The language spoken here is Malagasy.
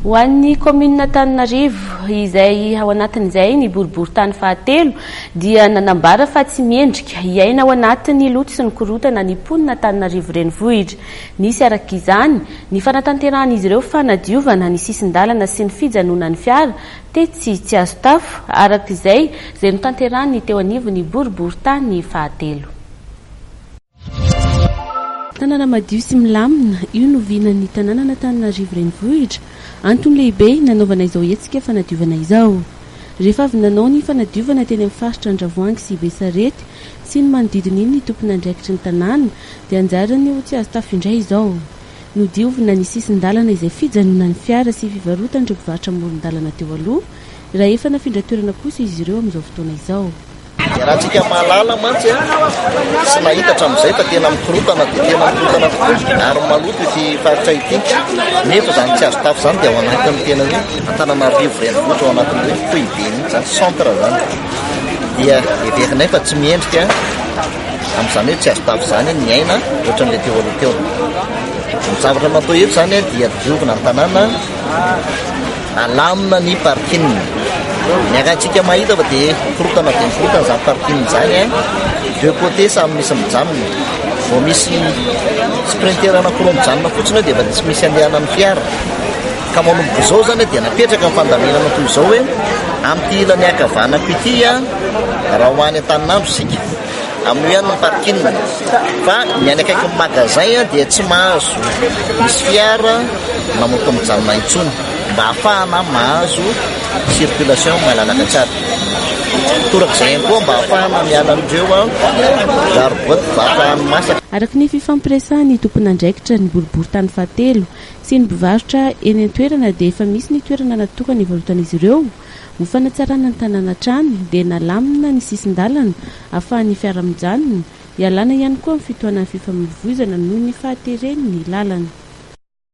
Ho an'ny kaominina Antananarivo, izay ao anatin'izay ny boriborintany fahatelo, dia nanambara fa tsy mendrika hiaina ao anatin'ny loto sy ny korontana ny mponina Antananarivo renivohitra. Nisy araka izany, ny fanatanterahan'izy ireo fanadiovana ny sisin-dalana sy ny fijanonan'ny fiara tetsy Tsiazotafo, araka izay izay notanterahan'ny teo anivon'ny boriborintany fahatelo. Tanàna madio sy milamina, io no vinan'ny tanànan'Antananarivo Renivohitra. Antony lehibe nanaovana izao hetsika fanadiovana izao. Rehefa avy nanao ny fanadiovana teny amin'ny faritra Andravoahangy sy Besarety sy ny manodidina iny ny tompon'andraikitry ny tanàna dia anjarany ho tsy azo tafo indray izao. Nodiovina ny sisin-dalana izay fijanonan'ny fiara sy fivarotan'ireo mpivarotra amoron-dalana teo aloha raha efa nafindra toerana kosa izy ireo amin'izao fotoana izao. Iarahantsika mahalala mantsy sy mahita hatramin'izay fa tena mikorotana dia tena mikorotana tokoa ary maloto ity faritra ity nefa izany tsy azo tafo izany dia ao anatin'ny tena hoe Antananarivo renivohitra ao anatin'ny hoe foibe mihitsy izany centre izany dia heverinay fa tsy miendrika amin'izany hoe tsy azo tafo izany ny aina ohatran'ilay teo aloha teo. Ny zavatra natao eto izany dia diovina ny tanàna Alamina ny parking. Ny akantsika mahita fa dia mikorotana dia mikorotana izany parking izany. Deux côtés samy misy mijanona. Vao misy sprinter anankiroa mijanona fotsiny dia efa tsy misy andehanan'ny fiara. Ka manomboka izao izany dia napetraka ny fandaminana toy izao hoe amin'ity ilany ankavanako ity raha ho any Antaninandro isika. Amin'io ihany ny parking fa ny any akaikin'ny magasin dia tsy mahazo misy fiara mamoaka mijanona intsony mba hahafahana mahazo circulation malalaka tsara. Toraka izay ihany koa mba hahafahana miala amin'ireo garbotte mpivarotra hani-masaka. Araka ny fifampiresahan'ny tompon'andraikitra ny boriborintany fahatelo sy ny mpivarotra eny an-toerana dia efa misy ny toerana natokana hivarotan'izy ireo, Ho fanatsarana ny tanàna hatrany dia nalamina ny sisin-dalana afahan'ny fiara mijanona, ialana ihany koa amin'ny fitohanan'ny fifamoivoizana noho ny fahateren'ny lalana.